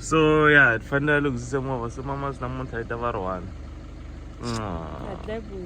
so ya hi fanele hi lunghise movha se mama swi namuntlha yi ta va ri one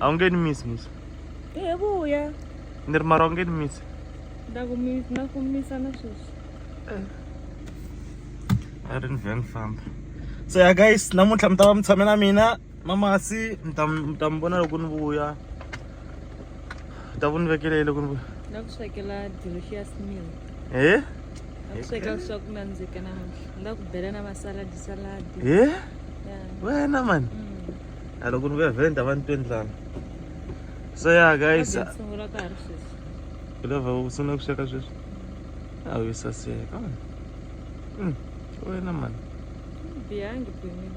a wu nge ni misi misi hi vuya ni ri mara wu nge ni misi na ku misa na sweswi eh. a ri ni vhe ni famba so ya guys namuntlha mi ta va mi tshame na mina mamasi mi ta mi ta mi vona loko ni vuya mi ta vu ni vekele loko ni vuya na ku swekela delicious meal he na ku swekela swa ku nandzika namuntlha ni la ku bela na masaladi saladi he ya wena mani Mm. a loko ni vuya vhele ni ta va ni twe ndlala so ya guys Kambe ni sungula ka ha ri sweswi u lava u sungula ku sweka sweswi a wu saseka mani Mm, wena mani bihangi pimile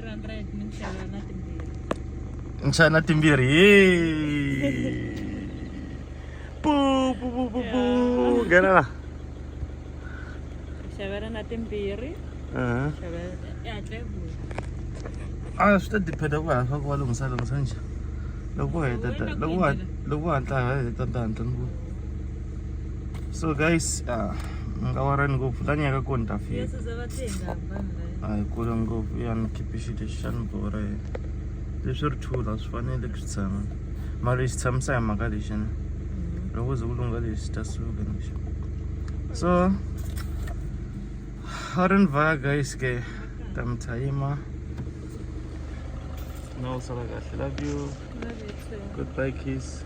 300 minxavo na timbirhi nxava na timbirhi Yee. pu pu pu pu pu nghena la xavela na timbirhi Mhm. xavela ya hatla yi vuya a swi ta diphenda ku hava ku va lunghisa lunghisa nje loko u heta ta- loko u hat- loko u hatla ha heta ta hatla ni ku so guys ah, mi nga warani ngopfu la nyaka kona ta fika yesuza va tenga a hi kule ngopfu ya ni khiphixi lexi xa ni borha hi leswi ri thula swi fanele ku swi tshama mara lexi tshamisa hi mhaka lexi ni mm-hmm. loko ze ku lungha lexi ta suka nixi so a ri ni vaya guys ke ta mi tshayima na u sala kahle love you goodbye kiss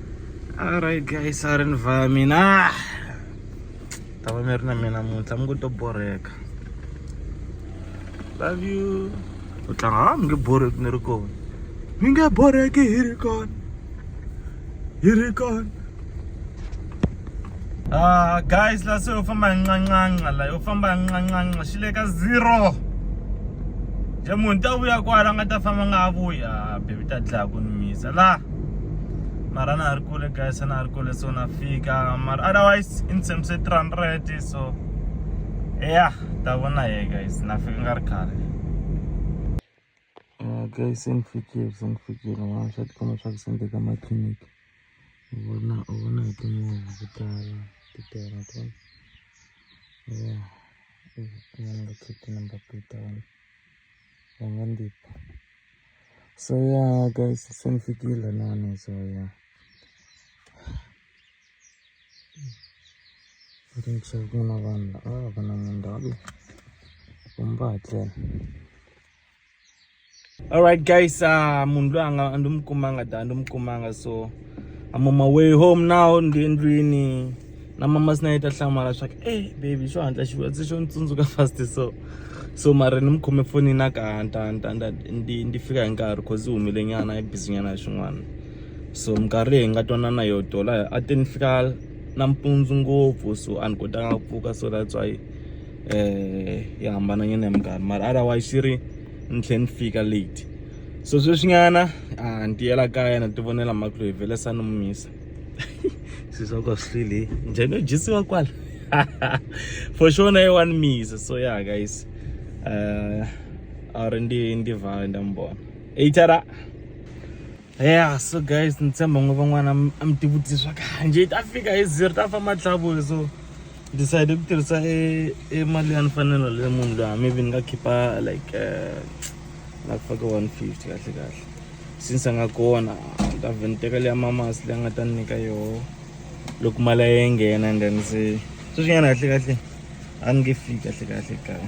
alright guys a ri ni vaya mina ah! ta va mi ri na mina muntlha mi ngo to borheka love you u tlanga ha ah, mi nge borheki ni ri kona mi nge borheki hi ri kona hi ri kona Ah, guys la se yo famba hi ncancanca la yo famba hi ncancanca xi le ka zero je munhu ta vuya kwala a nga ta famba nga a vuya ah, bebi ta dlaya ku ni misa la mara na ha ri kule guys a na ha ri kule so na fika mara otherwise in terms se three hundred so ya ta vona ye guys na fika nga ri khale Ka yi se ni fikela se ni fikela mara swa tikomba swa ku se ni le ka makhemisi u vona u vona hi timovha ku tala ti tele to ya i number plate i number plate ya wena va nga ni tipa so ya ka yi se se ni fikile lahawani so ya i think se ku na vanhu la a va na munhu ndhawu leyi kumbe va ha tlele. alright guys uh, munhu loyi anga a ndi mu kumanga da ndi mu kumanga so i'm on my way home now ndi endlwini na mama sina yi ta hlamala swa ku ey baby xo hatla xi vutise xo ni tsundzuka fast so so mara ni mi khome foni na ka nta nta nta ndi ndi fika hi nkarhi cause i humile nyana i busy nyana hi swin'wana so minkarhi leyi hi nga twanana yo dola a te ni fika nampundzu ngopfu so a ni kotanga ku pfuka so that's why um yi hambananyana ya minkarhi mara otherwise yi ri ni tlhe ni fika late so sweswinyana a ni tiyela kaya na ti vonela mhaka loyi vhele sa ni mu misa swi swa ka swi hlwile njhani yo dyisiwa kwala for sure na ye wa ni misa so ya guys um a ri ndi ndi vhala nda mi vona eitara ya so guys ni tshemba ngo van'wana a mi tivutise swa kanje ta fika hi zero ta famba tlhavuwe so decide ku tirhisa e, e mali ya mfanelo le munhu loyi maybe ni nga khipa like eh, nga faka one fifty kahle kahle since a nga kona ni ta vhe ni teka leya mamasi leyi a nga ta ni nyika yoho loko mali ya ye nghena and then se sweswinyana kahle kahle a ni nge fiki kahle kahle kaya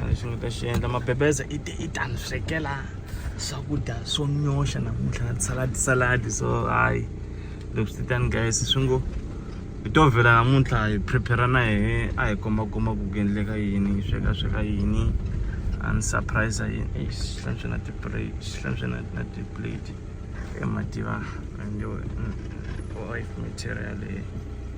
a lexi nga ta xi endla mabebeza i te i ta ni swekela swakudya swo nyoxa namuntlha na tisaladi saladi so hayi leswi ti tani guys swi ngo hi to vhela namuntlha hi prepare na hehe a hi kombakomba ku ku endleka yini hi sweka sweka yini a ni surprise yini ei swi hlantswe na tiplate swi hlantswe na na tiplate emativa and your mm, wife material leyi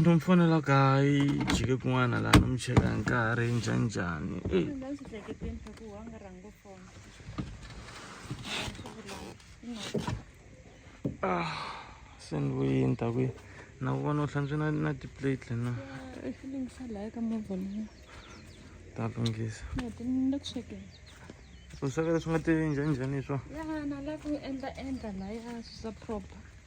ndo mi fonela kayi jike kun'wana laha no mi cheka hi nkarhi njhanjhani ah se ni vuyini ta kwihi na ku vona u hlantswe na na tiplate na ta lunghisa u sweka leswi nga ti njhanjhani hi swona ya na la ku endla endla laya swi sa proper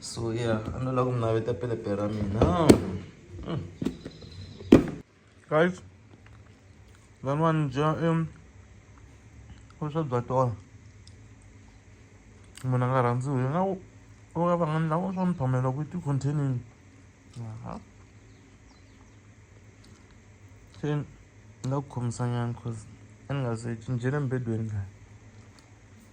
so yeah a no lava ku mi naveta pelepe ra mina hmm. guys lani va ni dya i vuswa bya tona munhu a nga rhandziwi nga u ya vanghani lava swa ni phamela ku ti-containing aha se ni nga ku khomisanyana cause a ni nga se cincele mbedweni laha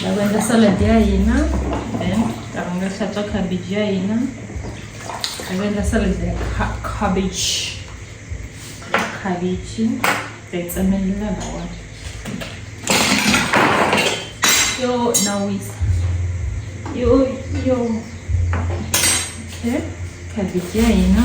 ta ku endla salad ya hina then ta ku nga hlantswa cabbage ya hina ta ku endla salad ya cabbage cabbage ta yi tsemelela lawona yo na wisa yo yo okay cabbage ya hina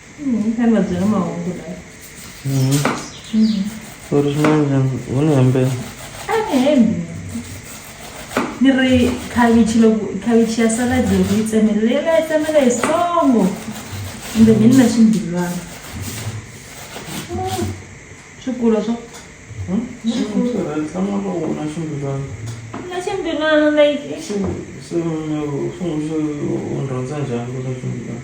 Kani va byela mahungu la. Ku ri xin'wana wu ni hembela. A ni hembi. Ni ri khavichi loko khavichi ya salad loko yi tsemele leyi nga yi tsemela hi songo. Kumbe ni na ximbilwana. Swikulo swa na ximbilwana like. Xi swi n'wi rhandza njhani ku na ximbilwana.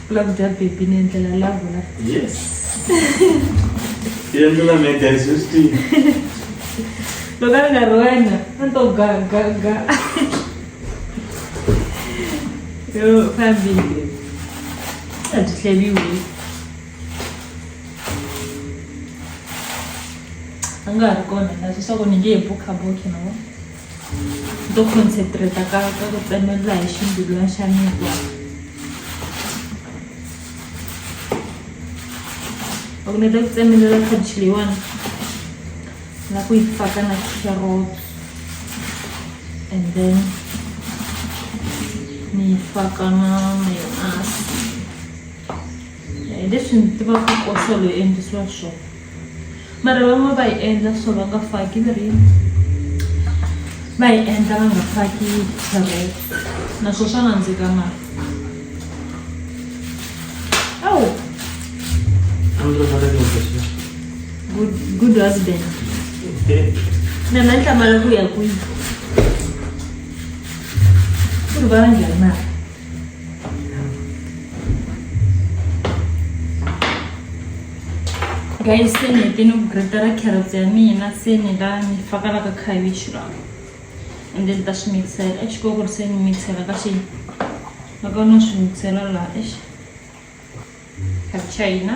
u lava ku dya bebi ni endlela lavo la yes ya mina me guys swi tiva loko a ri nga ri wena a ni to gagaga yo fambile a byi hleliwi a nga ha ri kona na sweswaku ni nge hi bukhabuki no to concentrate ka ka ku tsemelela hi ximbilwana xa mikwa loko ni ta ku tsemelela khabichi leyiwani na ku yi faka na carrot and then ni yi faka na mayonasi hi leswi ni tivaka kosolo yi endlisiwa swona mara van'wana va yi endla so va nga faki ni ri va yi endla va nga faki carrot naswo swa nandzika mali awu good, good husband na nahlangana ku ya kwihi ku ri va njhani mali guys se ni hete ni ku gretela carrots ya mina se ni la ni faka la ka cabbage la and then ta swi mixela exi ko ku ri se ni mixela ka xi loko no swi mixela la exi cabbage ya hina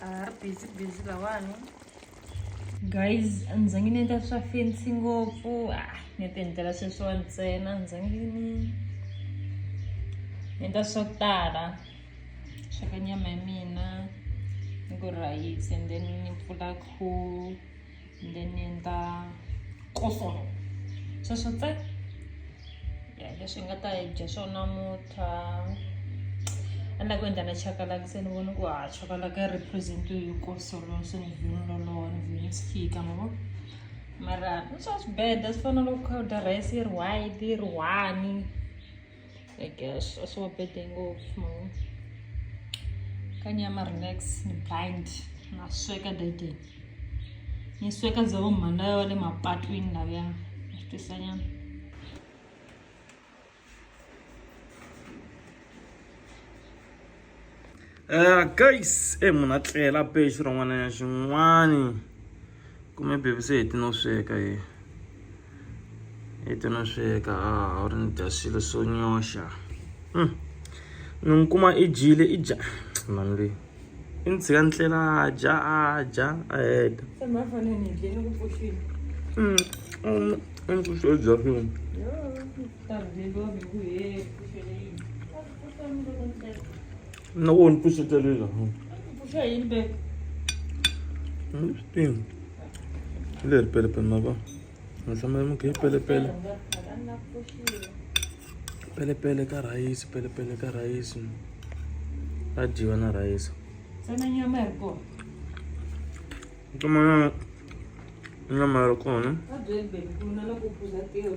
ari busy busy lawani guys a ndzi zangi ni endla swa fensi ngopfu a ah, ni ti endlela sweswiwa ntsena ndzi zangi ni endla swo tala sweka nyama ya mina ni ku rhayisi and then ni pfula khuwa then ni endla kosolo sweswo tse ya leswi hi nga ta dya swo namuntlha a ni la ku endla na chakalaka se ni vona ku ha chakalaka yi represent hi kosolo se ni vhini lolowa ni vhini swi fika ma vo mara swa swi beda swi fana loko kha u dya rice yi ri white yi ri one i guess a swi nga bede ngopfu ma vo ka nyama relax ni blind na sweka dede ni sweka za vo mhana yo le mapatwini laviya ni swi twisa nyana Uh, guys e eh, munhu a tlela be xirhon'wana ya xin'wani kume bebi se heti no sweka ye heti no sweka a ah, wu ri ni dya swilo swo nyoxa hmm. ni n'wi kuma i dyile i dya mani leyi i ni tshika ni tlela a dya a dya a heta Antes de eu No, won't push it a little. Push it in back. Spin. Ler pele pele maba. Nasa mai mo ke pele pele. Pele pele ka rice, pele pele ka rice. A jiwa na rice. Sana nyama yako. Tuma nyama. Nyama yako, ne? Adwe bebe, kuna la kupuza teo.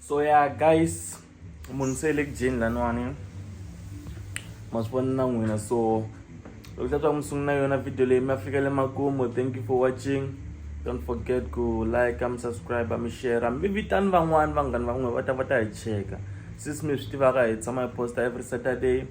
so ya guys munhu se le ku dyeni laniwani ma swi vona na n'wina so loko xa swa mi sungula yona video leyi mi afika le makumu thank you for watching don't forget ku like mi subscribe mi share mi vitani van'wani vanghani van'we va ta va ta hi cheka since mi swi tivaka hi tshama hi posta every saturday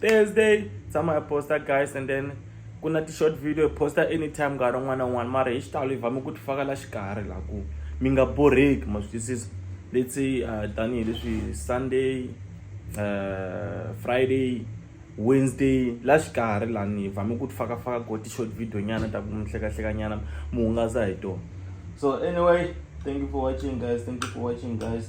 thursday tshama hi posta guys and then ku na ti-short video hi posta anytime nkarhi un'wana na un'wana mara hi xitalo hi vame ku ti faka la xikarhi la ku mi nga borheki ma swi twisisa let's say uh, tanihileswi sunday uh, friday wednesday la xikarhi lani hi vame ku ti faka faka ko ti-short video nyana ta ku mi hlekahleka nyana mi hungasa hi tona so anyway thank you for watching guys thank you for watching guys